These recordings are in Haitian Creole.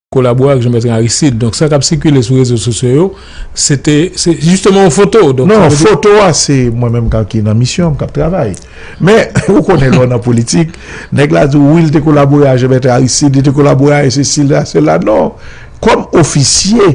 kolabore ak Jean-Bertrand Aristide donk sa kap sikile sou rezo sosyo yo se te se jisteman yon foto donk sa vle di non foto a se mwen menm kan ki nan misyon m kap travay men ou konnen lè w nan politik nèg la di w wi li te kolabore ak Jean-Bertrand Aristide li te kolabore ak sesi ak sela non kòm ofisye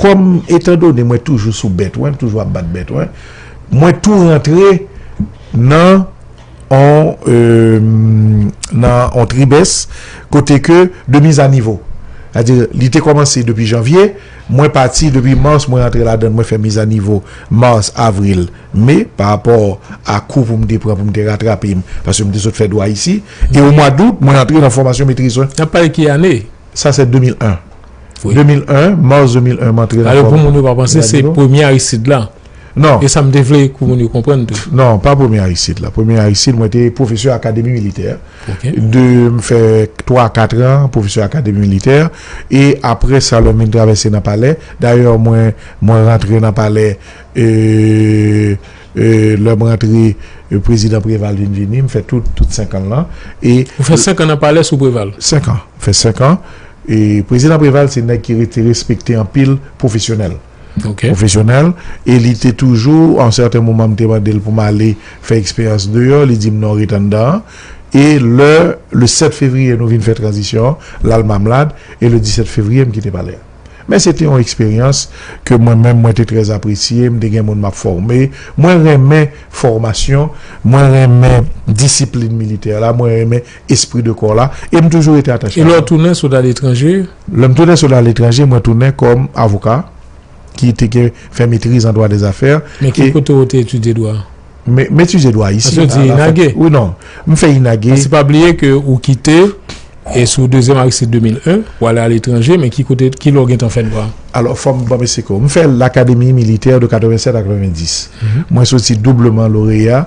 Kòm etan done mwen toujou sou bèt wen, m toujou ap bat bèt wen, mwen tou rantre nan on tribès kote ke de miz a nivo. A di li te kòmanse depi janvye, mwen pati depi mars mwen rantre la dan mwen fè miz a nivo mars, avril, me pa rapò a kou pou m te pran pou m te ratrape m paske m te sot fè dwa isi e o mwa dout mwen rantre nan fòmasyon metriz wen. Nap pale ki ane? Sa se 2001. Wi. 2001, mars 2001 m antre nan Alò pou moun yo pa panse se premye Aristide la. Non. E sa m te vle pou moun yo konprann tou. Non, pa premye Aristide la. Premye Aristide mwen te pwofesè akademi militè. Ok. De m fè 3 a 4 an pwofesè akademi militè e aprè sa lè m vin travèse nan palè, dayè mwen mwen rantre nan palè e e lè m rantre prezidan Preval vin vini m fè tout tout 5 an l lan e Ou fè 5 an nan palè sou Preval? 5 an. M fè 5 an. Prezidan Preval se nèg ki rete respekte anpil, pwofesyonèl. Pwofesyonèl e li te toujou, a yon sèten moman m te mande l pou m ale fè eksperyans deyò, li di m non ret anndan an. E lè le 7 fevriye nou vin fè tranzisyon an, l al Mamlad e le 17 fevriye m kite palè a. Men se te yon eksperyans ke mwen menm mwen te trè apresye, m te gen moun m ap fòme. Mwen renmen fòmasyon, mwen renmen disiplin militè la, mwen renmen. espri de kò la e m toujou rete atache avè l. E lè w tounen sot aletranje? Lè m tounen sot aletranje, mwen tounen kòm avoka ki te gen fè metriz an dwa dè zafè. Men ki kote ou te etidye dwa? M etidye dwa isi. Pase w di inage? Wi non, m fè inage. Pase pa bliye ke ou kite e sou dezyèm Aristide 2001, ou ale aletranje, men ki kote, ki lè w gentan fè dwa? Alò fò m banm esplike w. M fè lakademi militè de 87 a 90. Mwen soti doubleman loreya.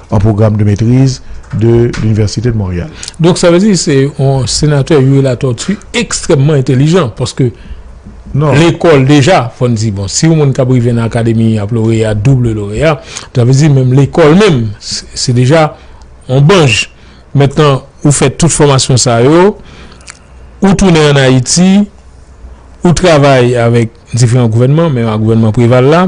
en programme de maîtrise de l'université de Montréal. Donk sa vle di se yon senatè Youri Latortue ekstrèmman entelijan paske lekòl deja fò n di bon si yon moun k ap rive nan akademi ap loreya double loreya sa vle di menm lekòl menm se deja yon banj mentnan ou fè tout fòmasyon sa yo ou tounen ann Ayiti ou travay avèk diferan gouvènman menm ak gouvènman Preval la.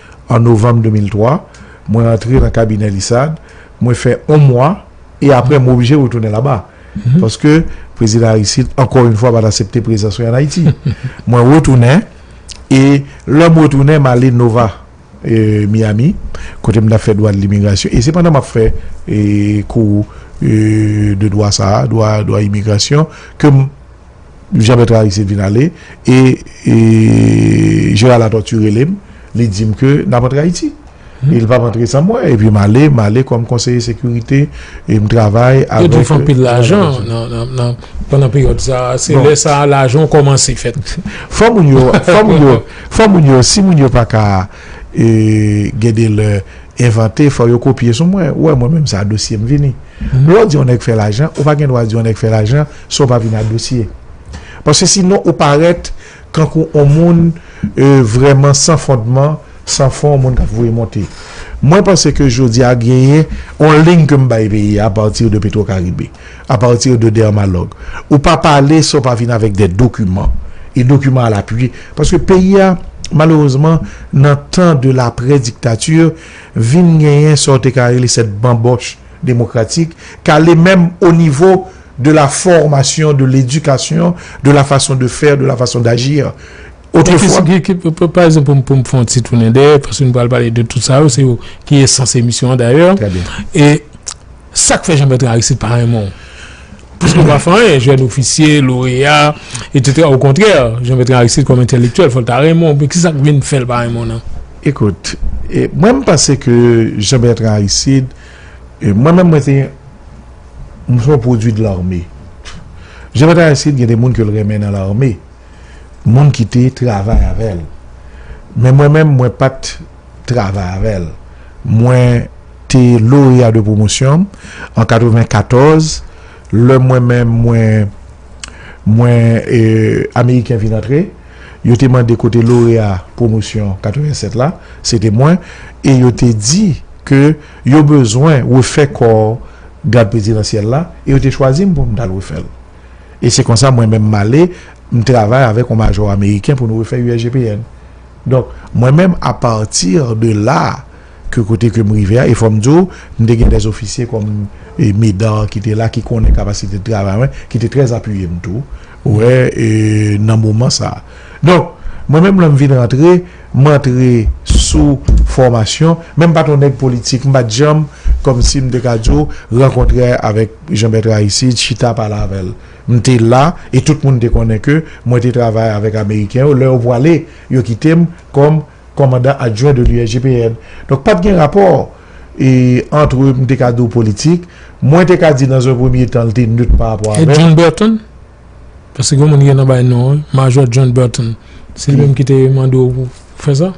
An novanm 2003, mwen antre nan kabinè Lissard, mwen fè yon mwa, e apre mwen oblije retounen laba, paske Prezidan Aristide, ankò yon fwa, pa t asepte prezans mwen an Ayiti. Mwen retounen, e lè mwen retounen, m ale Nova, Miyami, kote m t ap fè dwa limigrasyon, e se pandan m ap fè kou de dwa sa a, dwa imigrasyon, ke m. Jean Bertrand Aristide vin ale e Gérard Latortue rele m, li di m ke n ap antre Ayiti. E li pa p antre san mwen. E pi m ale, m ale kòm konseye sekirite e m travay avèk. Yo di w fè anpil lajan nan, pandan peryòd sa a. Se lè sa a lajan w kòmanse fèt. Fò moun yo, fò moun yo, fò moun yo, si moun yo pa ka. E gen de lè envante fò yo kopye sou mwen. Ou wè mwen menm sa dosye m vini. Lè w di yon nèg fè lajan, ou pa gen dwa di yon nèg fè lajan san w pa vini a dosye. Paske sinon ou parèt kankou yon moun vrèman san fondman, san fon, yon moun k ap voye monte. Mwen panse ke jodi a genyen yon liy ke m bay peyi a apati de Petwokaribe. A partir de dermalog. Ou pa pale san w pa vin avèk des documents et documents à l'appui. Paske peyi a malerezman nan tan de l'après dictature vin genyen sa w te ka rele cette bamboche démocratique k ale menm au niveau de la formation, de l'éducation, de la façon de faire, de la façon d'agir. Autrefois. Pa egzanp pou m pou m fè yon ti tounen dèyè paske nou pral pale de tout sa yo se yo ki esans emisyon an dayè. Trè byen. E. Sak fè Jean Bertrand Aristide pa renmen w? Pwiske w pa fè anyen, jèn ofisye, loreya, etsetera, okontrè, Jean Bertrand Aristide kòm entèlektyèl fò l ta renmen w, men ki sak vin fè l pa renmen w nan? Ekout, mwen m panse ke Jean Bertrand Aristide, mwen menm mwen se yon, m se yon pwodui de l'armée. Jean Bertrand Aristide gen de moun ke l renmen nan l'armée, moun ki te travay avè l. Men mwen menm mwen pa t. travay avè l. Mwen te loreya de pwomosyon an 94, lè mwen menm mwen mwen e ameriken vin antre, yo te mande kote loreya pwomosyon 87 la, se te mwen, e yo te di ke yo bezwen refè kò gad prezidansyèl la, e yo te chwazi m pou m t al refè l. E se konsa mwen menm m ale, m travay avèk yon majò ameriken pou nou refè USGPN. Donk, mwen menm a partir de là ke kote ke m rive a, e fò m di w, m te gen des officiers kòm Médard ki te la, ki konnen kapasite de travay mwen, ki te trè apiye m tou, ou wè, e nan moman sa a. Donk, mwen menm lè m vin rantre, m antre sou fòmasyon, men m pa t yon nèg politik, m pa t janm, kòm si m te ka di w, rankontre avèk Jean Bertrand Aristide, chita pale avè l. M te la, e tout moun te konnen ke mwen te travay avèk Ameriken yo. Lè yo pwale, yo kite m kòm Kòmandan Adjwen de l'USGPN. Donk, pa t gen rapò antre, m te ka di w, politik. Mwen te ka di, nan zon premye tan, l te nöt pa rapò avè m. E John Burton? Paske gen yon moun ki gen tan bay non an, Majò John Burton. Se li menm ki te mande w pou. Fè sa?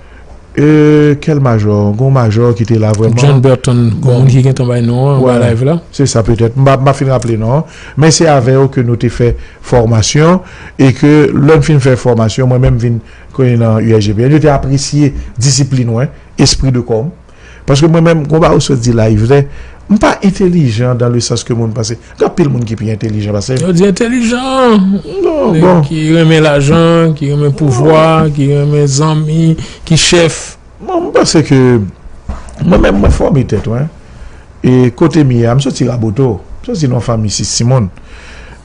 E kel majò? Gon majò ki te la vreman? John Burton, gon moun ki gentan bay non an nan live la. Se sa petèt. M pa fin raple non an. Men se avè yo ke nou te fè fòmasyon e ke lè n fin fè fòmasyon mwen menm m vin konnen nan USGPN. Yo te apresye disiplin mwen, espri de kò m. Paske mwen menm konpa ou sot di la yvne m pa entelijan dan le sans ke moun panse gen anpil moun ki pi entelijan pase m. Yo di entelijan nèg ki renmen lajan ki renmen pouvwa ki renmen zanmi ki chèf. Bon m panse ke mwen menm mwen fòme tèt mwen e kote m ye a m soti raboto m soti nan yon fanmi 6 timoun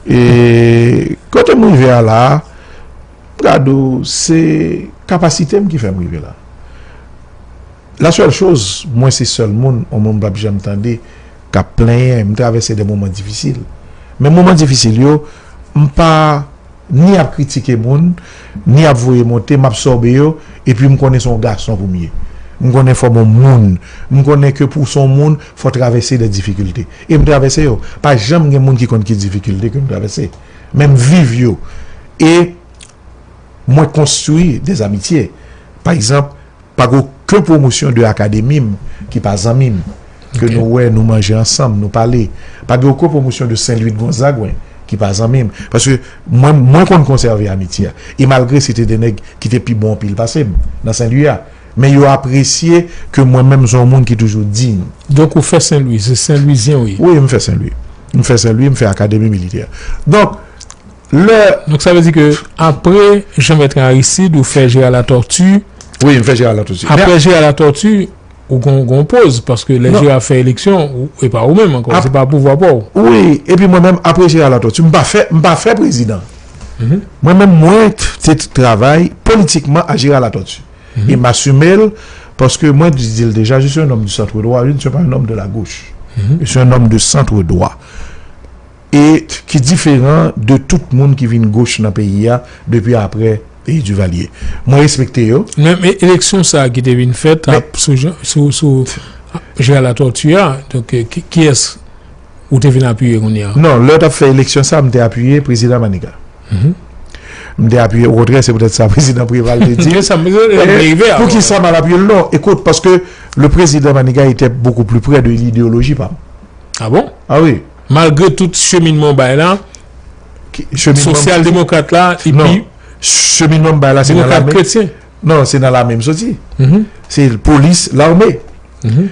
e kote m rive a la a Gado se kapasite m ki fè m rive la. La sèl choz mwen se sèl moun o monn m pap janm tande k ap plenyen. M travèse de moman difisil. Men moman difisil yo, m pa ni ap kritike moun, ni ap voye monte. M absòbe yo. Epi m konnen se yon gason pou m ye. M konnen fò m yon moun. M konnen ke pou w se yon moun, fò w travèse de difikilte. E m travèse yo. Pa janm gen moun ki konn ki difikilte ke m travèse. men m viv yo e mwen konstwi des amitye. Pa egzanp, pa gen oken pwomosyon de akademi m ki pa zanmi m, ke nou wè, nou manje ansanm, nou pale. Pa gen oken pwomosyon de Sen Lwi de Gonzaguen ki pa zanmi m. Paske mwen, mwen konn konsève amitye a. E malgre se te de nèg ki te pi bon anpil pase m nan Sen Lwi a, men yo apresye ke mwen menm m se yon moun ki toujou diy. Donk ou fè Sen Lwi? Se Sen Lwizyen ou ye? Wi, m fè Sen Lwi. M fè Senlwi, m fè Akademi Militè. Donk, lè. Donk sa vle di ke apre Jean-Bertrand Aristide, ou fè Gérard Latortue. Wi, m fè Gérard Latortue. Apre Gérard Latortue, ou gen yon poz, paske lè Gérard ap fè eleksyon, e pa ou menm ankò, se pa pouvwa pa ou. Wi, e pi mwen menm, apre Gérard Latortue, m pa fè, m pa fè prezidan. Mwen menm, mwen te travay politikman ak Gérard Latortue. e m asime l paske mwen di l deja je suis un homme du centre droit je ne suis pas un homme de la gauche je suis un homme de centre droit e ki diferan de tout moun ki vin goch nan peyi a depi apre peyi Duvalier mwen respekte yo men men eleksyon sa ki te vin fèt a sou jan sou sou Gérard Latortue a donk kiyès ou te vin apiye kounye a nan lè yo t ap fè eleksyon sa m te apiye prezidan Maniga. M te apiye okontrè se poutèt sa prezidan Preval te di. Pou ki sa m al apiye l non. Ekout paske le prezidan Maniga etè bokou pli prè de ideoloji pa m. A bon? A wi. Malgre tout cheminman w bay la, sosyal demokrat la epi. Non. Cheminman m bay la se nan lame. Demokrat kretyen. Non se nan lame m soti. Se polis lame.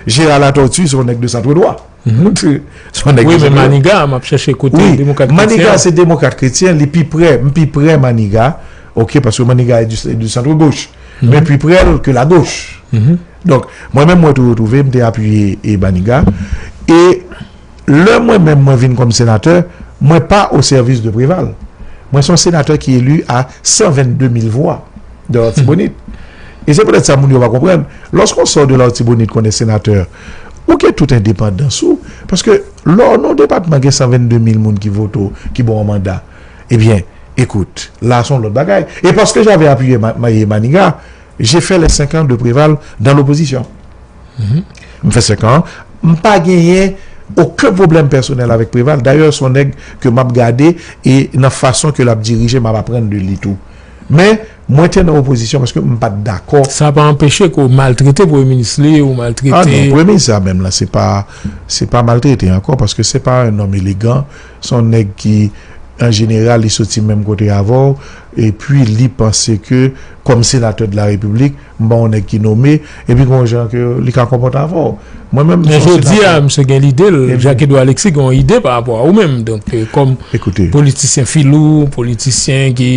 Jera la tòti se yon nèg de santwedwa. Wi men maniga a map chèche kote demokrat kretyen. Maniga se demokrat kretyen li pi prè m pi prè maniga ok paske maniga e di centre gauche men pi prè l ke la gauche donk mwen menm mwen tou retrouve m te apiye e maniga e lè mwen menm mwen vin kòm senatè mwen pa o sèvis de preval mwen son senatè ki elu a 122 mil vwa de lòtibonit e se poutèt sa moun yo pa konprann lòske w sò de lòtibonit kon e senatè Ou gen tout endepandans ou, paske lò nan yon depatman gen 122 mil moun ki vote w, ki ba w manda, ebyen, ekout, la a se yon lòt bagay. E paske j'avais appuyé Maniga, j'ai fait les 5 ans de Préval dans l'opposition. M fè 5 an, m pa genyen oken pwoblèm pèsonèl avèk Préval, dayè se yon nèg ke m'ap gade e nan fason ke l'ap dirije m'ap aprann de li tou. Men. Mwen te nan opozisyon paske m pat dakò. Sa pa anpeche ke w maltrete premye minis li, ou maltrete. Ah non, premye minis sa menm lan se pa, se pa maltrete ankò paske se pa un homme élégant, se yon nèg ki an jeneral li soti menm kote avè w epi li panse ke kòm senatè de la République, m pa yon nèg ki nome, epi gen yon jan ke li ka konpòte avè w. Mwen menm m se yon senatè. Men jodi a misye gen lide l, Jacques Edouard Alexis gen yon ide pa rapò a ou menm donk kòm politisyen filou, politisyen ki.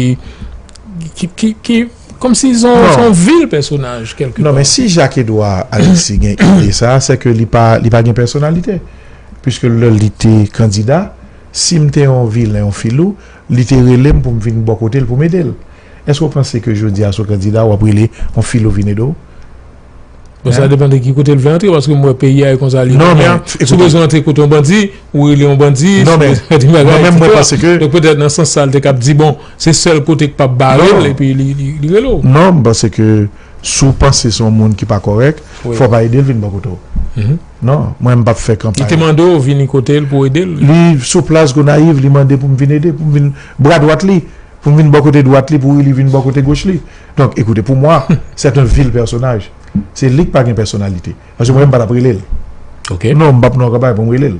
Ki komsi son yon vil pèsonaj kelke pa. Non men si Jacques Edouard Alexis gen ide sa a se ke li pa li pa gen pèsonalite. Piske lè li te kandida, si m te yon vilen, yon filou, li te rele m pou m vin bò kote l pou m ede l. Èske w panse ke jodi a si w kandida w ap rele yon filou vin ede w? Bon, sa depan de ki kote l vle antre, paske mwen peyi a e konsa li. Non, men, ekoute. Sou bezwen antre kote yon bandi, ou rele yon bandi. Non, men, mwen menm mwen panse ke. Donk petèt nan sans sa l te kab di bon, se sèl kote k pa p bare l epi li rele w. Non, m panse ke si w panse se yon moun ki pa kòrèk, fò w pa ede l vin bò kote w. Non, mwen m pa p fè kanpay. Li te mande w vini kote l pou w ede l? Li sou plas Gonayiv, li mande pou m vin ede, pou m vin bra dwat li, pou m vin bò kote dwat li pou li vin bò kote goch li. Donk ekoute pou mwa c'est un vil pèsonaj se li k pa gen pèsonalite paske mwen menm m pa tap rele l non m pap nan yon kanpay pou m rele l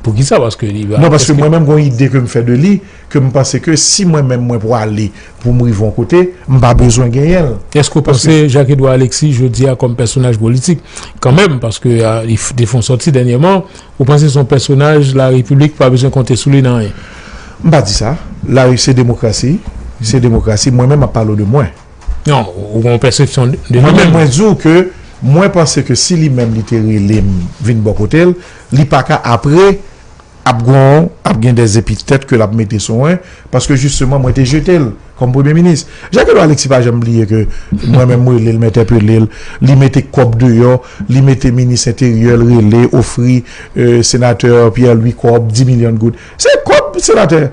non paske mwen menm gon ide ke m fè de li ke m panse ke si mwen menm mwen pwale pou m rive yon kote m pa bezwen genyen l. Èske w panse Jacques Edouard Alexis jodi a kòm pèsonaj politik kanmenm paske li te fon sòti dènyèman Ou panse son pèsonaj la repiblik pa bezwen konte sou li nan anyen? M pa di sa. La se demokrasi, se demokrasi. Mwen menm map pale w de mwen. Non, ou gen yon pèsepsyon de li menm. Mwen menm mwen di w ke mwen panse ke si li menm li te rele m vin bò kote l, li pa ka apre ap gon ap gen dè epitèt ke lap mete sou mwen paske jisteman mwen te jete l. kòm premye minis. Jacques Edouard Alexis pa janm bliye ke mwen menm m rele l, m entèpele l, li mete kòb deyò, li mete minis enteryè l rele, ofri senatè Pierre Louis kòb, 10 milyon goud. Se kòb senatè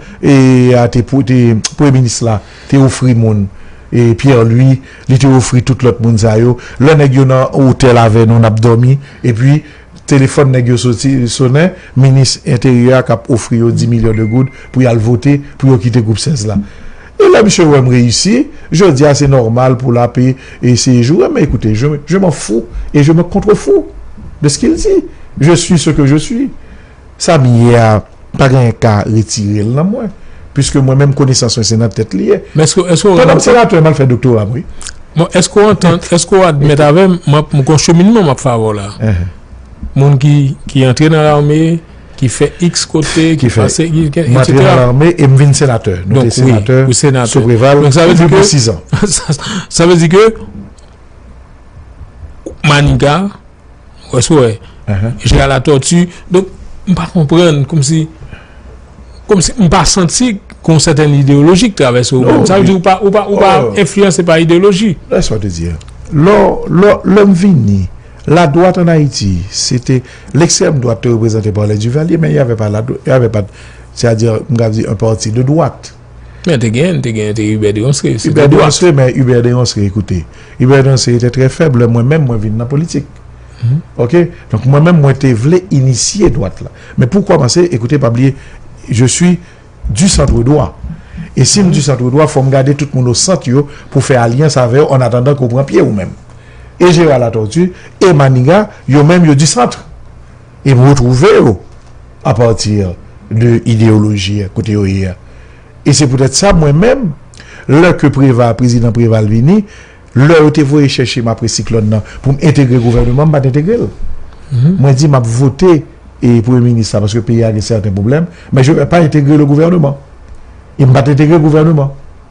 a te, premye minis la te ofri moun Pierre Louis, li te ofri tout lòt moun sa yo. Lè nèg yo nan otèl avè nou n ap dòmi, epi Telefòn nèg yo soti sonnen, minis enteryè a k ap ofri yo 10 milyon de goud pou y al vote pou yo kite gwoup 16 la. E lè misye wè m reyisi, jodi a se nòmal pou l ap eseye joure m. Men ekoute, je m'en fous et je me contrefous de ce qu'il dit. Je suis ce que je suis. Sa m ye a, m pa genyen ka retire l nan mwen, piske mwen menm konesans mwen se nan tèt li ye. Pandan m senatè, m al fè doktora m wi. Bon, èske w antann, èske w admèt avè m, m ap, m gon cheminman m ap fè avè w la. Moun ki, ki antre nan lame, ki fè iks kote, ki pase, ki fè, m antre nan lame e m vin senatè. Nou te senatè sou Preval pou plido sizan. Sa vle di ke Maniga. Wè sou wè. Jè a la tòti. Donk, m pa konprann kòm si kòm si m pa santi kon sèten ideoloji k travèse ou menm. Sa vle di ou pa ou pa ou pa enfliyanse pa ideoloji. Lè sa w te di a. Lò lò lè m vini la dwat an Ayiti se te lekstrèm dwat te reprezante pa lè Divalye men y avè pa la y avè pa sè a di m ka di an pati de dwat. Men te gen, te gen, te Hubert Deronce, se te dwat. Men Hubert Deronce, ekoute, Hubert Deronce se te tre feb le mwen menm mwen vin nan politik. Ok, donk mwen menm mwen te vle inisye dwat la. Men pou komanse, ekoute, pa bliye, je sui du centre dwa. E si m du centre dwa, fom gade tout moun o sant yo pou fe alyans ave yo an atandan ke w pran pye ou menm. E Gérard Latortue, e Maniga, yo menm yo du centre. e pou retwouve yo apati de ideyoloji kote yo ye a. E se poutèt sa mwen menm, lè ke Preva, Prezidan Preva al vini, lè yo te voye chèche m apre siklòn nan pou m entegre gouvèneman, m pa t entegre l. Mwen di m ap vote Premye Minis la paske peyi a gen sèten pwoblèm, men je ne vais pas intégrer le gouvernement. E m pa t entegre gouvèneman.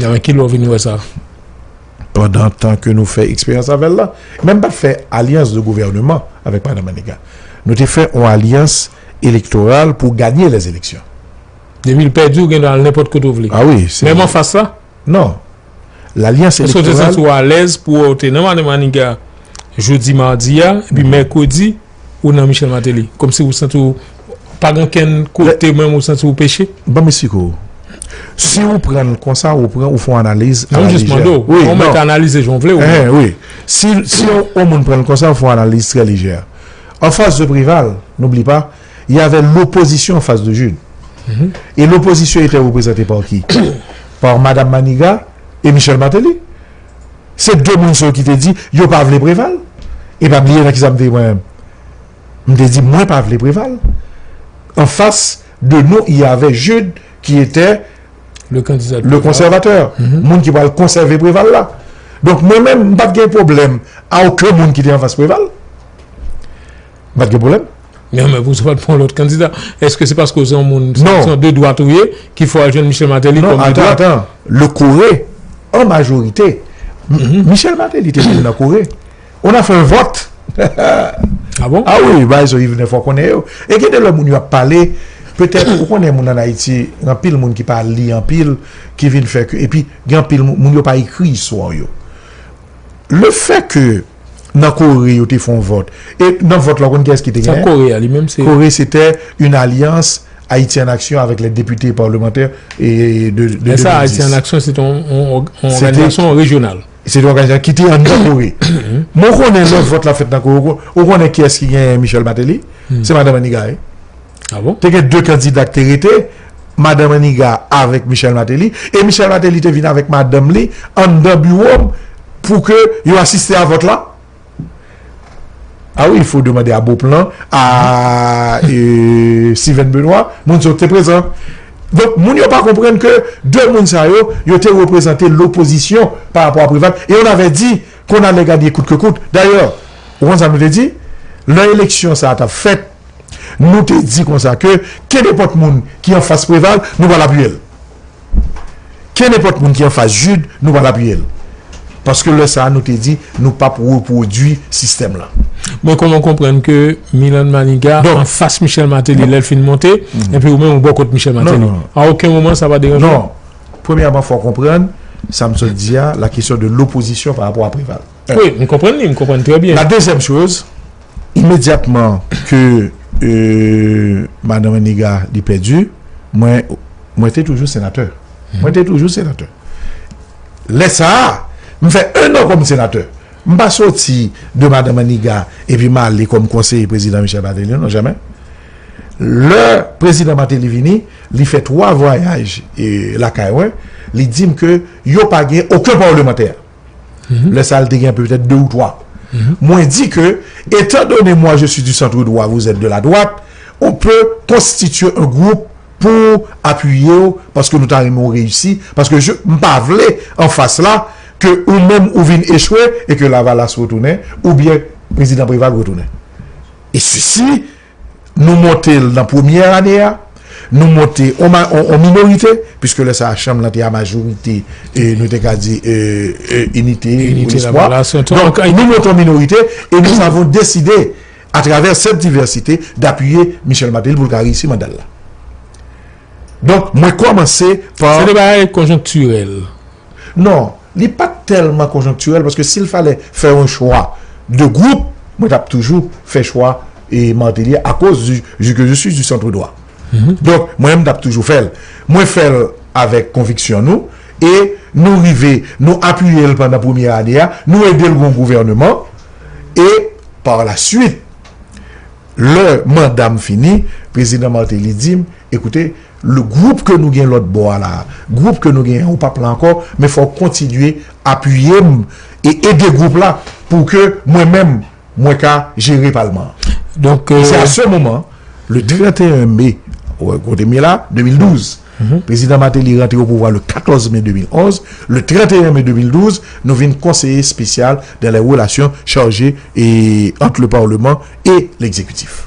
Nan men ki lè w vin wè sa? Pandan tan ke nou fè eksperyans avè l la. Men m pa t fè alyans de gouvèneman avèk Madan Maniga. Nou te fè yon alyans elektoral pou ganye lè eleksyon. Depi l pèdi, w gen dwa al nenpòt kote w vle. A wi. Menm an fas la? Non. Lalyans elektoral. Èske w te santi w alèz pou wè w te nan Madan Maniga jodi madi a, epi mèkredi? ou nan Michel Martelly? Kòmsi ou santi w pa gen okenn kote menm ou santi ou peche? Ban m esplike w. Si ou pran l konsa, ou pran, ou fè yon analiz a la lejè. Non, m jis mande w. Ou mèt analize jan w vle w. Enhen, wi. Si yon moun pran l konsa, ou fè yon analiz trè lejè. An fas de Preval, n'oublie pas, il y avait l'opposition en face de Jude. Et l'opposition était reprezante par qui? Par Madame Manigat et Michel Martelly. Se 2 moun sa yo ki te di yo pa vle Preval. E pa bliye nan ki sa m te ye mwen menm. M te di mwen pa vle Preval. An fas de nou y avè Jude ki etè le konsèvatè. Moun ki pral konsève Preval la. Donk mwen menm m pa t gen pwoblèm a oken moun ki te an fas Preval. M pat gen pwoblèm. Men anmè pou sa w pat pran lòt kandida? Eske se paske w se yon moun se yon de dwat ou ye ki fè w al jwenn Michel Martelly kòm de dwat? Non, atan, atan. Le Kore, an majorite, Michel Martelly te vin nan Kore. On a fait un vote. A bon? A wi, bagay sa yo Yvener fò w konnen yo. E gen de lè moun yo ap pale, petèt, ou konnen moun ann Ayiti, gen anpil moun ki pa li anpil, ki vin fè ke, epi gen anpil moun, moun yo pa ekri istwa yo. Le fè ke nan Kore yo te fon vòt, e nan vòt la ou konn kiyès ki te genyen? Sa Kore a li menm se? Kore se te yon alyans Ayiti an Aksyon avèk lè depite parlemantè e de 2010. Lè sa Ayiti an Aksyon se te yon òganizasyon rejyonal. Se te yon òganizasyon ki te an nan Kore. Mwen konnen lè vòt la fèt nan Kore, ou konnen kiyès ki genyen Michel Martelly? Se Madan Maniga e. Te gen 2 kandida ki te rete, Madan Maniga avèk Michèl Mateli. E Michèl Mateli te vin avèk madanm li anndan biwo m pou ke yo asiste a vòt la. A wi, fo demande a Beauplan, a Steven Benoît, moun sa yo te prezan. Donk, moun yo pa konprann ke 2 moun sa yo, yo te reprezante lopozisyon pa rapò a Preval. E on avè di, kon ale ganye kout ke kout. Dayè, ou konn sa nou te di? Lè eleksyon sa a t ap fèt, Nou te di konsa ke kenepòt moun ki anfas Preval, nou pral apiye l. Kenepòt moun ki anfas Jude, nou pral apiye l. Paske lè sa a nou te di nou pap repwodui sistèm lan. Men kòman w konprann ke Milan Maniga anfas Michel Martelly lè l fin monte, epi ou menm ou bò kot Michel Martelly? A oken moman sa pa deranje w? Non. Premyèman fò w konprann sa m sot di a, la kesyon de lopozisyon parapò a Preval. Wi, m konprann li, m konprann trè byen. La dezyèm choz, Imedyatman ke Madan Maniga li pèdi, mwen, mwen te toujou senatè. Mwen te toujou senatè. Lè sa a, m fè enn an kòm senatè. M pa soti de Madan Maniga epi m ale kòm konseye Prezidan Michel Martelly, non, jamè. Lè Prezidan Martelly vini, li fè twa vwayaj lakay mwen, li di m ke yo pa gen oken pawlemantè. Lè sa l te gen petèt de ou twa. Mwen di ke, etan done mwa je si di santre dwa vou zèt de la dwat, ou pe konstitye on gwoup pou apiye ou paske nou ta renmen ou reyisi, paske je m pa vle an fas la ke ou menm ou vin echwe e ke lavalas retounen oubyen prezidan Preval retounen. E sisi Nou monte l nan premyè ane a, nou monte an minorite, piske lè sa a chanm lan te a majorite, nou te ka di inite ou lespwa. Donk, nou monte an minorite e nou avon deside a travè sèt divèsite dapiye Michel Martelly pou l ka reyisi manda l la. Donk, mwen kòmanse pa. Se de bagay konjonktirèl. Non, li pa t tèlman konjonktirèl paske si l falè fè yon chwa de gwoup, mwen t ap toujou fè chwa Martelly a akoz du que je suis du centre droit. Donk, mwen menm m t ap toujou fè l. Mwen fè l avèk konviksyon nou e nou rive nou apiye l pandan premye ane a, nou ede l gen yon gouvèneman e par la suite lè manda m fini, prezidan Martelly di m, Ecoutez, Le group ke nou gen lòt bò a la a, group ke nou gen an ou pap la ankò, men fò ou kontinye apiye m e ede group la pou ke mwen menm mwen ka jere palman an. Donk e se a se moman le 31 me, kote m ye la, 2012, Prezidan Mateli rantre o pouvwa le 14 me 2011, le 31 me 2012 nou vin konseye spesyal dan lè relasyon charje e ant le parleman e lekzekitif.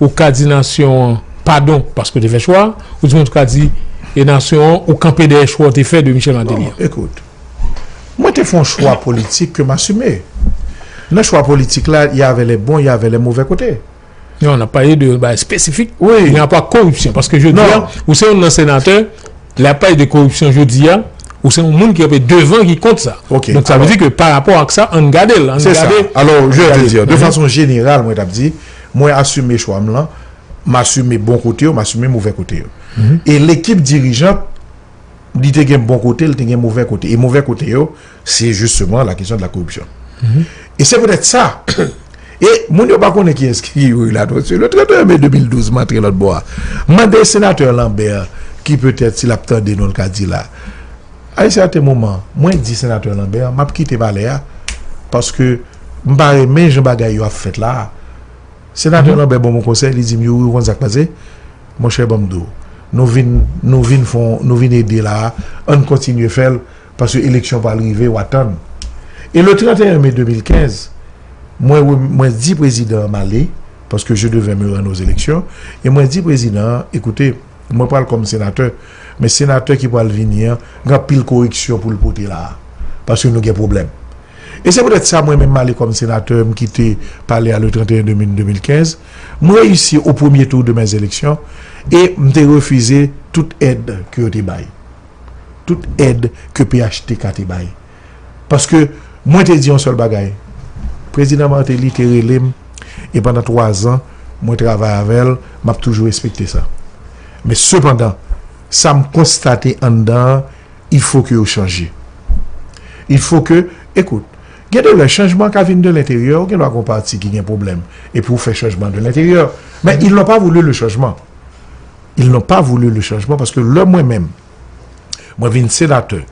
ou ka di nasyon an padon paske w te fè chwa a, ou di menm tou ka di e nasyon an ou kanpe dèyè chwa w te fè de Michel Martelly an. Ekout, mwen te fè yon chwa politik ke m asime. Nan chwa politik la, y avè lè bon, y avè lè movè kote. Non, n ap pale de yon bagay espesifik ki gen rapò ak koripsyon. Paske jodi a, ou se youn nan senatè, lè y ap pale de koripsyon jodi a, ou se yon moun ki kanpe devan ki kont sa. Donk sa vle di ke pa rapò ak sa, ann gade l, ann gade. Se sa. Alò, je vle di, de fason jeneral, mwen t ap di. Mwen asime chwa m lan, m asime bon kote yo, m asime movè kote yo. E lekip dirijant, li te gen bon kote, li te gen movè kote. E movè kote yo, se jisteman la kesyon de la koripsyon. E se petèt sa, e moun yo pa konnen kiyès ki Youri Latortue. Le 31 me 2012, m antre lòtbò a. M mande senatè Lambert, ki petèt si l ap tande nou l ka di la. A un certain moment, mwen di Senateur Lambert map kite palè a paske m pa renmen jan bagay yo ap fèt la a. Senateur Lambert ban m yon konsèy, li di m, Youri ou konn sak pase? Mon cher banm di w, nou vin nou vin fon nou vin ede la a, ann kontinye fè l paske eleksyon pral rive wa tann. E le 31 mai 2015, mwen re mwen di prezidan an m ale paske je devais me rendre aux élections e mwen di prezidan an, écoutez, Mwen pral kòm senatè, men senatè ki pral vini an gen anpil koreksyon pou l pote la a, paske nou gen pwoblèm. E se petèt sa mwen menm m ale kòm senatè, m kite pale a le 31 demin 2015, m reyisi o premye tou de mè eleksyon e m te refize tout èd ke yo te bay, tout èd ke phtk te bay. Paske mwen te di yon sèl bagay. Prezidan Martelly te rele m e pandan 3 zan mwen travay avè l, m ap toujou respekte sa. Men sepandan, sa m konstate anndan an, il fo ke yo chanje. Il fo ke, ekout, gen de lè chanjman ka vin de lenteryè, ou gen dwa gen yon pati ki gen pwoblèm e pou ou fè chanjman de lenteryè. Men ils n'ont pas voulu le changement. Ils n'ont pas voulu le changement paske lè mwen menm, Mwen vin senatè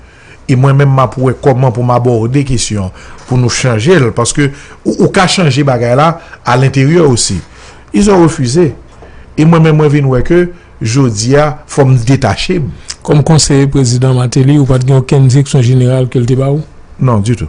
e mwen menm m ap wè kòman pou m abòde kesyon an pou nou chanje l paske ou ka chanje bagay la alenteryè osi. Ils ont refusé e mwen menm mwen vin wè ke jodi a fò m detache m. Kòm konseye prezidan Martelly, ou pa t gen okenn direksyon jeneral ke l te ba ou? Non, ditou.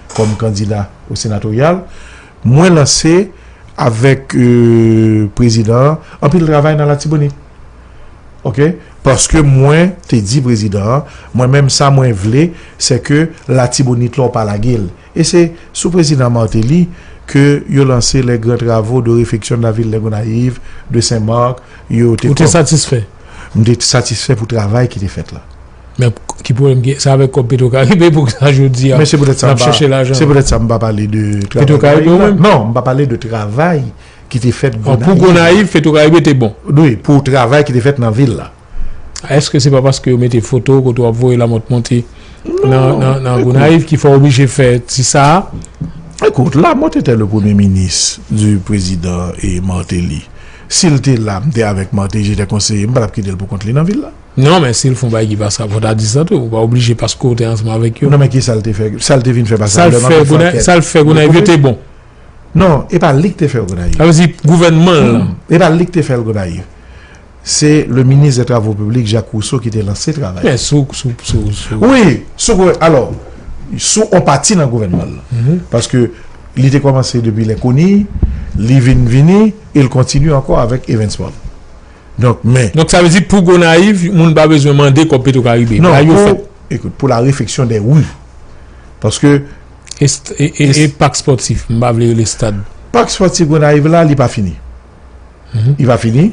kòm kandida o senatoryal, mwen lanse avèk prezidan an anpil travay nan Latibonit. Ok, paske mwen te di prezidan an, mwen menm sa mwen vle, se ke Latibonit la w pa lage l. E se sou prezidan Martelly ke yo lanse les grands travaux de refection de la ville de Gonaïves, de Saint-Marc, yo te. Ou te satisfè? M te satisfè pou travay ki te fèt la. Men ki pwoblèm ki sa avèk kòb Petrocaribe e poukisa jodi a nap chèche lajan. Se poutèt sa m pa pale de travay Gonayiv la. Non, m pa pale de travay ki te fèt Gonayiv la. Pou Gonayiv, Petrocaribe te bon. Wi, pou travay ki te fèt nan vil la. Èske se pa paske yo mete foto kote w ap voye lamòt monte nan Gonayiv ki fè w oblije fè ti sa a? Ekout, Lamòt etè le premye minis di prezidan Martelly. Si l te la, m te avèk Martelly, jete konseye, m pa t ap kite l pou kont li nan vil la. Non men sil fon bagay ki pa sa fò ta di sa tou ou pa oblije paske ou te ansanm avèk yo. Non men kisal te fè sal te vin fè pa sa lèman te fè sal fè gonayiv yo te bon. Non e pa lik te fèl gonayiv. Sa vle di gouvènman l lan. E pa lik te fèl gonayiv. Se le minis de travo piblik Jacques Rousseau ki te lanse travay. Men sou sou sou sou. Wi sou gou alò sou on pati nan gouvènman l lan paske li te kòmanse depi lè koni li vin vini e l kontinye ankò avèk Evans Paul. Donk men. Donk sa vle di pou Gonayiv moun pa bezwen mande kòb Petro Karibe. Bay yo fè. Ekout pou la refeksyon dè ru. Paske. E pak spòtif. M pa vle rele stad. Pak spòtif Gonayiv la li pa fini. Li pa fini.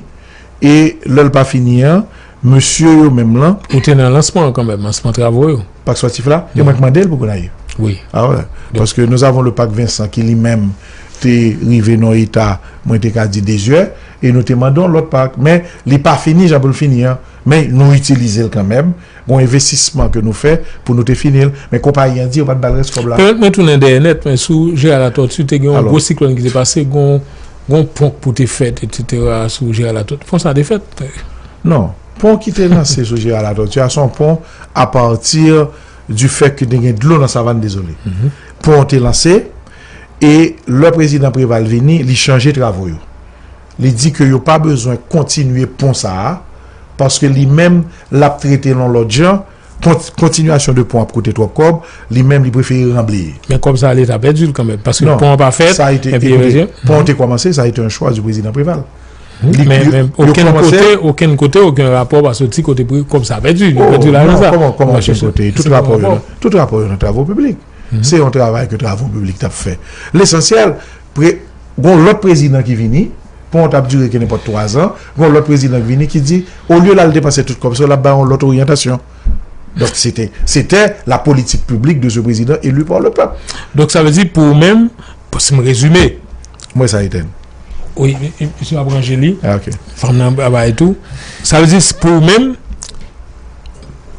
E lè l pa fini an. Mesye yo menm lan. Ou te nan lansman an kanmèm. Lansman travo yo. Pak spòtif la. E mwen k mande l pou Gonayiv. Wi. A wè. Paske nou avon le pak Vincent ki li menm te rive nan eta mwen te ka di dezyè. E nou te mande yon lòt pak, men li pa fini jan pou l fini an. Men nou itilize l kanmèm. Gon envestisman ke nou fè pou nou te fini l. Men konpayi an di yo pa t ba l rès kòb la. Pèmèt mwen tounen dèyè nèt, men sou Gérard Latortue, te gen yon gwo siklòn ki te pase, gon yon pon pou te fèt etsetera sou Gérard Latortue. Pon sa te fèt? Non. Pon ki te lanse sou Gérard Latortue a, se yon pon apati di fèt ke te gen dlo nan Savann Dezole. Pon an te lanse. E lè prezidan Preval vini, li chanje travo yo. Li di ke yo pa bezwen kontinye pon sa a, paske li menm l ap trete l yon lòt jan, kontinyasyon de pon ap koute twòp kòb, li menm li prefere ranbleye. Men kòb sa a leta pèdi l kanmenm, paske pon an pa fèt. Ekoute, pon an te kòmanse, sa a ete yon chwa di prezidan Preval. Men okenn kote, okenn kote, okenn rapò pa soti kote kòb sa a pèdi. Yo pèdi lajan sa a. Kòman okenn kote? Tout rapò yo nan travo piblik. Se yon travay ke travo piblik tap fè. Lesansyèl, gon lòt prezidan ki vini, pon an tap dire ke nenpòt 3 zan, gon lòt prezidan ki vini ki di, olye lal depanse tout kòb sa yo, lap bay yon lòt oryantasyon. Donk sete, sete la politik piblik de se prezidan eli pa le pèp. Donk sa vle di pou ou menm, si m rezime. Mwen sa Etèn. Wi, misye ap ranje li. Ah, ok. Fanm nan ap bay tou. Sa vle di pou ou menm,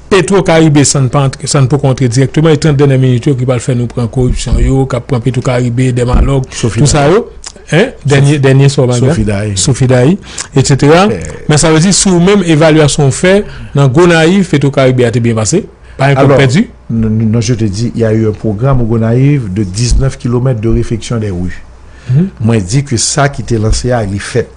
Petro Karibe san pa antre, san poko antre direkteman, e 30 dènye minit yo ki pral fè nou pran koripsyon yo, kap pran Petro Karibe, Dèmalòg, tout sa yo, hein, dènye, dènye sa w bay la. Sofidayi. Sofidayi, etsetera. Men sa vle di si ou menm evalyasyon ou fè nan Gonayiv, Petro Karibe a te byen pase, pa yon kòb pèdi. Alò, non je te di, ya eu un programme au Gonayiv de 19 kilomètres de refeksyon des rues. mwen di ke sa ki te lanse a li fèt.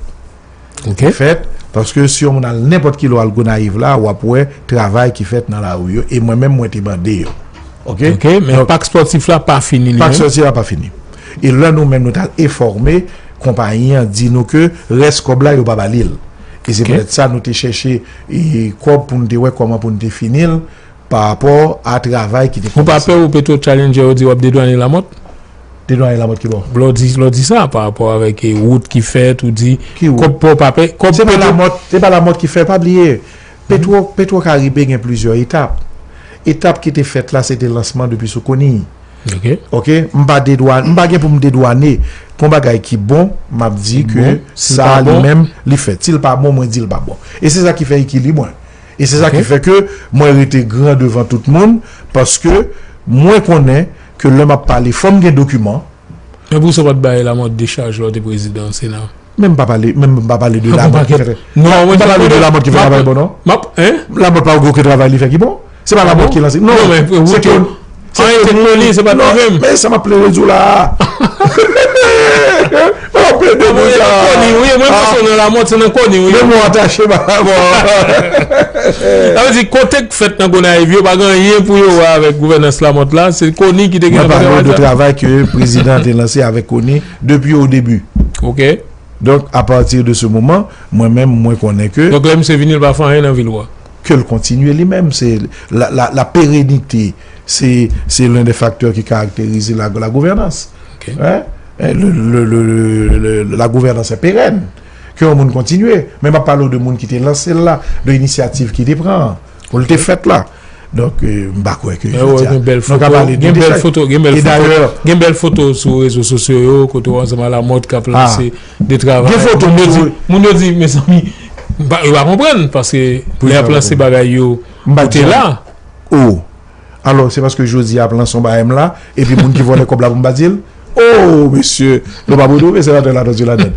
Li te fèt, paske si yon moun al nenpòt ki lò al Gonayiv la, w ap wè travay ki fèt nan lari yo, e mwen menm mwen te mande yo. Ok? Ok, men pak spòtif la pa fini li menm? Pak spòtif la pa fini. E lè nou menm nou t al enfòme, konpayi an di nou ke rès kòb la yo pa ba li l. E se petèt sa nou te chèche kòb pou nou te wè kòman pou nou te fini l, parapò a travay ki te kòmanse. Ou pa pè ou Petro Challenger yo di w ap dedwane Lamòt? De Doyen Lamòt ki bon? Lè w di, lè w di sa pa rapò avèk e wout ki fèt, ou di Ki wout? kòb pò w pa peye, kòb Se pa petro Lamòt, se pa Lamòt ki fè, pa bliye petro, petro karibe gen plizyè etap. Etap ki te fèt la se te lansman depi sou Koniy. Ok. Ok, m pa dedwa, m pa gen pou m dedwane pou yon bagay ki bon, m ap di ke bon, si l sa pa li bon? menm li fèt. Si l pa bon, mwen di l pa bon. E se sa ki fè ekilib mwen. E se sa Ok. ki fè ke mwen rete gran devan tout moun paske mwen konnen ke lè map pale fòm gen dokiman. Men pou sa ou pat bay Lamòt dechaj lè ou te prezidan sena? Men m pa pale, men m pa pale de Lamòt ki fè travay. Non, m pa pale de Lamòt ki fè travay bon non. Map, hein? Lamòt pa gen oken travay li fè ki bon. Se pa Lamòt ki lanse. Non, men pou ou tou. An e te koni se pat li menm. Men sa map plede di w la a. Wap pede pou sa. Mwen se nan koni wi, mwen pa se nan lamòt, se nan koni wi. Memwa an tache pa lamò. Sa vle di kote k fèt nan Gonayiv yo pa gen anyen pou yo wè avèk gouvènans lamòt la, se koni ki te gen afè travay sa. Mwen pale w de travay ke prezidan te lanse avèk koni depi o debi. Ok. Donk a pati de se moman, mwen menm mwen konnen ke. Donk lè misye vini l pa fè anyen nan vil wa. Ke l kontinye li menm. Se la perenite se len de faktè ki karakterize la gouvènans. La gouvènans se peren. Ke yon moun kontinye. Men m ap pale w de moun ki te lanse l la, de inisyativ ki te pran an. Pou l te fèt la. Donk m pa kwè ke. Mwen wè gen bèl foto. Gen bèl foto. Gen bèl foto. Gen bèl foto sou rezo sosyo yo. Kote w ansanm a la mòt k ap lanse. De travay. Gen foto moun yo di, moun yo di mezanmi yo pa konprann paske lè plan se bagay yo ou te la. Oh alò se paske jodi a plan son bagay m la epi moun ki vòlè kòb la pou m pa di l? Oh mesye nou pa pou twouve senatè Latortue ladann.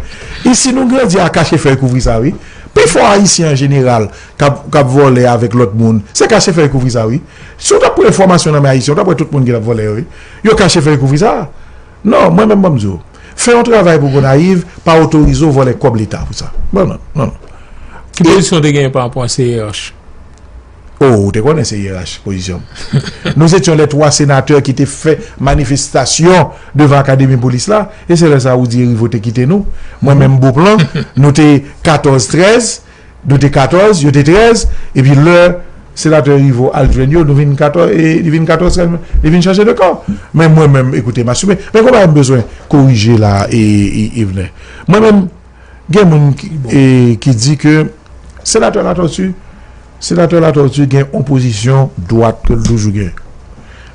Isi nou grandi a kache fèy kouvri sa wi. Pi fò ayisyen an jeneral k ap vòlè avèk lòt moun se kache fèy kouvri sa wi. Si w t ap pran enfòmasyon nan men ayisyen w t ap wè tout moun ki t ap vòlè yo wi. Yo kache fèy kouvri sa. Non mwen menm banm di w. Fè yon travay pou Gonayiv pa otorize w vòlè kòb leta pou sa. Non non non non. Ki pozisyon w te genyen pa rapò a CEH? Oh ou te konnen CEH pozisyon m. Nou se tyon lè 3 senatè ki te fè manifestasyon devan akademi polis la e se lè sa ou di Erivo te kite nou. Mwen menm Beauplan nou te 14 13. Nou te 14, yo te 13, epi lè Senatè Rivo al jwenn yo, nou vin 14, e li vin 14 sèl men, li vin chanje de kan. Men mwen menm, ekoute m asime. Men gen yon bagay m bezwen korije la a, Yvener. Mwen menm, gen moun ki di ke Senatè Latortue, Senatè Latortue gen yon pozisyon dwat ke l toujou gen.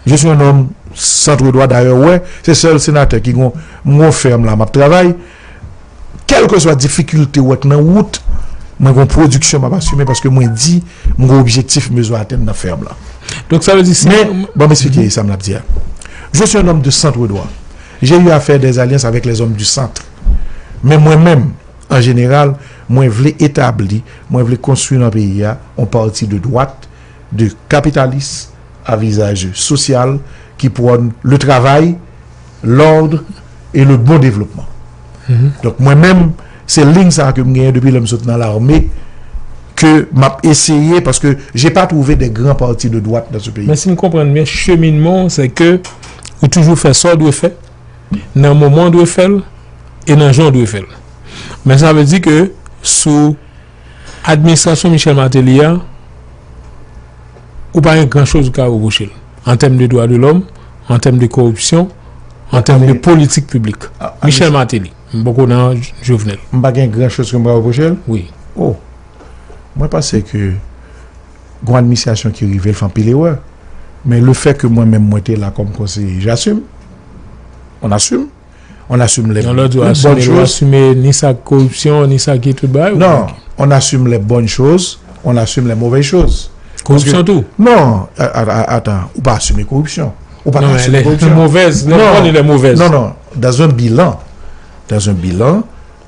Je suis un homme centre droit, dayè ou wè, se sèl Senatè ki gen yon, m gen yon fèm la m ap travay, Kèlkeswa difikilte ou wè k nan wout, mwen gen yon pwodiksyon m ap asime paske mwen di m gen objektif m bezwen atenn nan fèm lan. Men, ban m esplike sa m ap di a. Je suis un homme de centre droit. J'ai eu à faire des alliances avec les hommes du centre. Men mwen menm, an jeneral, mwen vle etabli, mwen vle konstwi nan peyi a yon pati de dwat, de kapitalis a vizaj sosyal ki pwòn le travay, l'ordre et le bon développement. Donk mwen menm se lign sa ke m genyen depi lè m sot nan lame ke m ap eseye paske je pa twouve de gran parti de dwat nan se peyi. Men si m konprann byen cheminman w se ke ou toujou fè sa w dwe fè nan moman w dwe fè l e nan jan w dwe fè l. Men sa vle di ke sou administrasyon Michel Martelly a, ou pa gen gran choz ou ka repwoche l, an tèm de dwa de lòm, an tèm de koripsyon, an tèm de politik piblik. Michel Martelly, m poko nan Jovenel. M pa gen gran choz ke m ka repwoche l? Wi. O! Mwen panse ke gon administrasyon ki rive l fè anpil erè. Men le fè ke mwen menm mwen te la kòm konseye, j'assume. On assume. On assume les bonnes choses. Ni sa korupsyon, ni sa ki tout bay. Non, on assume les bonnes choses, on assume les mauvaises choses. Korupsyon tou? Non, atan, ou pa assume korupsyon. Ou pa assume korupsyon. Non, non, non, non, dans un bilan, dans un bilan,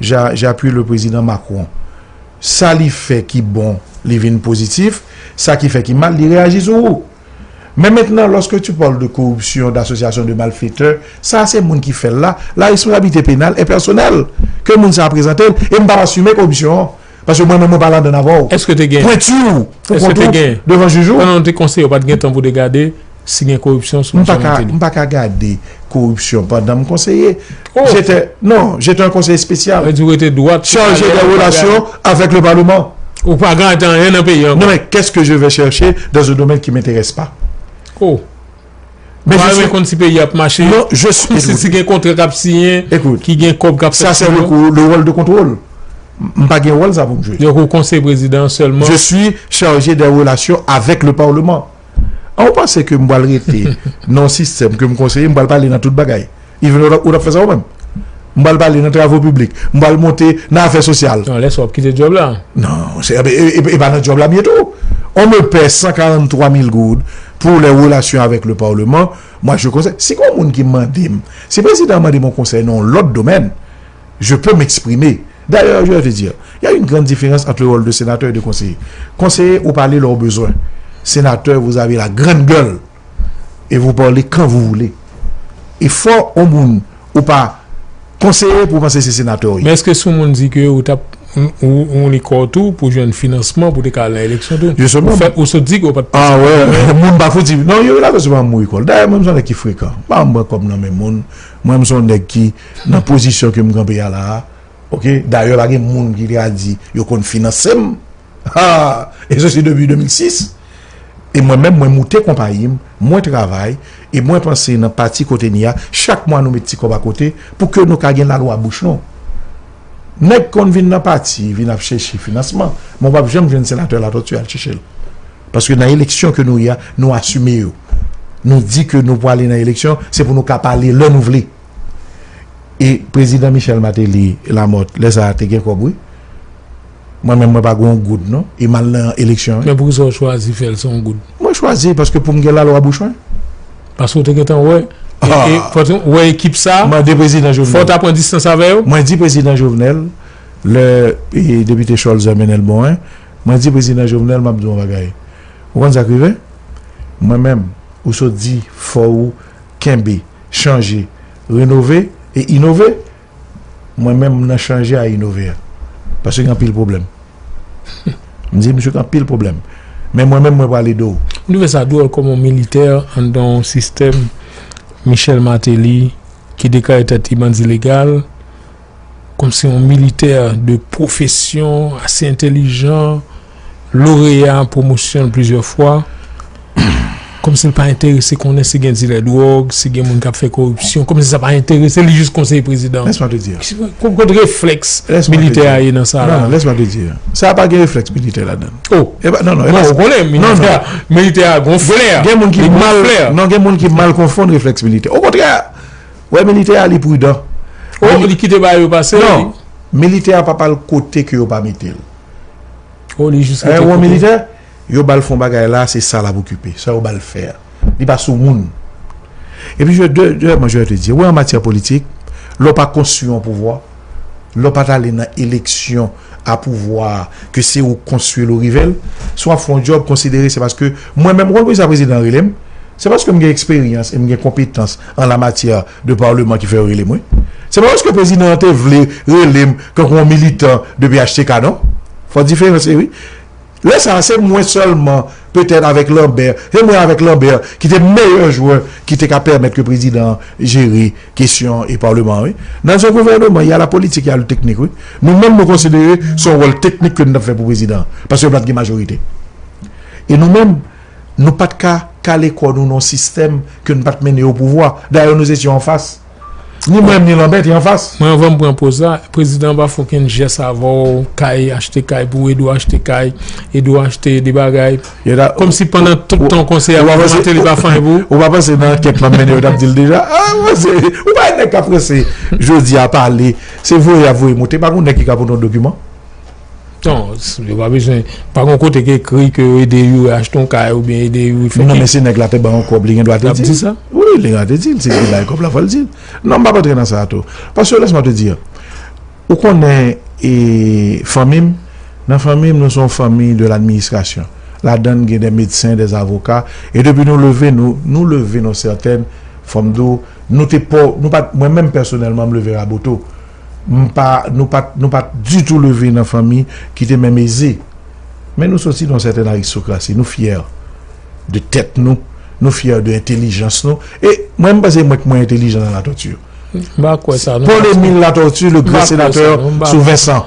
Ja j'appuie le président Macron sa li fè ki bon li vin positif sa ki fè ki mal li reyaji sou ou men mentnan lorsque tu parle de corruption d'association de malfaiteurs sa se moun ki fèl la la responsabilité pénale est personnelle ke moun sa prezantel e m pap assume corruption an. Paske mwen menm mwen pa ladann avè w. Èske te gen? Pwenti w pou kont ou devan jij ou? Pandan nou te konseye w pa t gen tan pou w te gade si gen koripsyon sou Misye Martelly? M pa ka gade koripsyon pandan m konseye. Jete, non, jete an konseye espesyal. Sa vle di w rete dwat sou palè a, ou pa gade? Charje de relasyon avèk le paleman. Ou pa gade anyen nan peyi an ankò? Non men, kès ke je vè chèche dan ze domèn ki menterès pa? O! Mwen pa renmen konn si peyi ap mache. Non, je suis. Ekoute. Si gen kontra kap siyen. Ekoute. Ki gen kòb kap fèt sou yo. Sa se le rôle de contrôle. M pa gen wòl sa pou m jwe. Donk ou konseye prezidan an sèlman. Je suis chargé des relations avec le parlement. An ou panse ke m pral rete nan yon sistèm ke m konseye, m pral pale nan tout bagay. Yvener, ou tap fè sa ou menm? M pral pale nan travo piblik, m pral monte nan afè sosyal. Non, lè sa w ap kite djòb la. Non, monchè, e pa nan djòb la m ye tou. On me paie 143 mil goud pou les relations avec le parlement, moi je conseille, si gon moun ki mande m, si prezidan an mande m on konsèy nan on lòt domèn, je peux m'exprimer. D'ailleurs, je vais te dire, il y a une grande différence entre le rôle de sénateur et de conseiller. Conseiller, ou pale lè w bezwen. Sénateur, vous avez la grande gueule. et vous parlez quand vous voulez et fò on moun ou pa konseye pou panse se senatè ou ye. Men eske si on moun di ke ou tap ou li kòw tou pou jwenn finansman pou te ka al nan eleksyon tou? Ou fè ou sot di ke ou pat panse pou moun yo? Moun pa fouti non yo la kòz pa mouri kòl. Dayè mwen m son nèg ki frekan. M pa renmn pran kòb nan men moun. Mwen m son nèg ki nan pozisyon ke m kanpe a la a ok dayè pa gen moun ki te ka di yo konn finansem. Haa! E se se depi 2006? E mwen menm mwen moute konpayi m, mwen travay, e mwen panse nan pati kote n ye a, chak mwa nou met ti kòb akote pou ke nou ka gen lalwa bouch nou. Nèg konn vin nan pati vin ap chèche finansman, men w pap janm jwenn Senatè Latòti al chèche l. Paske nan eleksyon ke nou ye a, nou asime yo. Nou di ke nou pwale nan eleksyon, se pou nou ka pale lè nou vle. E Prezidan Michel Martelly Lamothe lè sa a te gen kòb wi. Mwen menm mwen pa gon goud non e mal nan eleksyon wi. Men poukisa ou chwazi fèl san goud? Mwen chwazi paske poum gen lalwa bouch mwen. Paske ou te gentan wè e fò te wè ekip sa Mande prezidan Jovenel. Fò ta pran distans avè yo? Mwen di prezidan Jovenel lè depite Cholzer mennenl bon en mwen di prezidan Jovenel map di yon bagay ou konn sak rive mwen menm ou sot di fò ou kenbe chanje renove e inove Mwen menm m nan chanje a inove a. Paske gen anpil pwoblèm. M di misye gen anpil pwoblèm. Men mwen menm mwen pral ede w. M twouve sa dwòl kòman yon militè anndan yon sistèm Michel Martelly ki deklare tèt li bandi legal, kòmsi yon militè de pwofesyon, ase entelijan, loreya pwomosyon l plizyè fwa, kòmsi l pa enterese konnen si gen dilè dwòg, si gen moun k ap fè koripsyon, kòmsi sa pa enterese li jis konseye prezidan an. Lèsman te di. Ki kot reflèks militè a ye nan sa a la? Non, lèsman te di. Sa a pa gen reflèks militè ladan l. O! E pa, non, non, e pa sa. Bon, ou konnen militè a, militè a gon flè. Gen moun ki mal, non, gen moun ki mal konfonn reflèks militè. O kontrè, ou wè militè a li pridan. O, li kite bagay yo pase. Non, militè a pa pa al kote ke yo pa mete l. Oh li jis rete kote. Aewo militè? Yo bal fon bagay la se sa lap okipe. Sa yo bal fè a. Li pa sou moun. E pi je dèyèman je te di. Ou wè an matyè politik, lè w pa konstwi yon pouvwa, lè w pa ta ale nan eleksyon a pouvwa a ke se ou konstwi l ou rive l, si w ap fè yon djòb konsidere se paske mwen menm ou konn poukisa prezidan rele m? Se paske m gen eksperyans e m gen konpetans. an la matyè de parleman ki fè yo rele m wi. Se pa paske prezidan an te vle rele m tankou yon militan de phtk non. Fò diferans e wi. Lè sa a se mwen sèlman petèt avèk Lambert, se mwen avèk Lambert ki te meyè jwè ki te ka pèmèt ke prezidan an jere kesyon e parleman an wi. Nan yon gouvèneman y a la politique, y a le technique wi. Nou menm nou konsidere se yon wòl teknik ke nou t ap fè pou prezidan an paske yo pa t gen majorite. E nou menm. Nou pat ka kale kò nou nan sistèm ke n pat mennen opouvwa. Dayè nou se syon anfas. Ni mwen menm ni Lanbè te anfas. Mwen anvan m pran poz la, prezidan pa fè okenn jès avè w, kay, achte kay pou Edou, achte kay, Edou achte de bagay. Kòm si pandan tout tan konsèy a prezidan Mateli pa fè anyen pou ou. Ou pa panse nan ankèt map mennen yo tap dil deja. Ou pa wè nèg kap prese jodi a pale se voye yap voye moute. Pa gon nèg ki ka pote yon dokiman. Non, yo pa bezwen, pa gon kote ki ekri ke yo ede youri achte yon kay ou byen ede youri fè. Non men si nèg la te ban yon kòb li gen dwa te di. Li ap di sa? Wi, li gen dwa te di l si li te bay kòb la fò l di l. Non m pa p antre nan sa a tou. Paske lèse mwen te di an, ou konnen e fanmi m, nan fanmi m nou se yon fanmi de l'administration. Ladan n gen dè medsen, dè avoka e depi nou leve nou, nou leve nan sètèn, fò m di w, nou te pa, nou pa, mwen menm pèsonèlman m leve Raboto. M pa, nou pa t, nou pa t ditou leve nan fanmi ki te menm eze. Men nou soti nan yon sèten aristokrasi. Nou fyè de tèt nou. Nou fyè de entelijans nou. E, mwen m panse mwen k mwen entelijan nan Latòti yo. Paul Emile Latortue, le grand sénateur sous Vincent.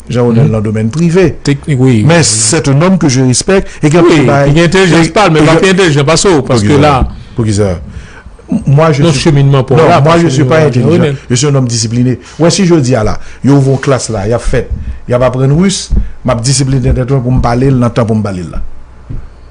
Jean Ronel nan domèn prive. Teknik wi. Men sè te nonm ke je respèk e gen pou bay. Wi, li gen entelijans pa l men li pa pi entelijans pase w paske la. Poukisa? Mwa je. Non cheminman pa w la. Non, mwa je si pa entelijans. Je si yon nonm disipline. Ou wè si jodi a la, yo ouvri yon klas la, y ap fèt, y ap aprann rus, m ap disipline tèt mwen pou m pale l nan tan pou m pale l la.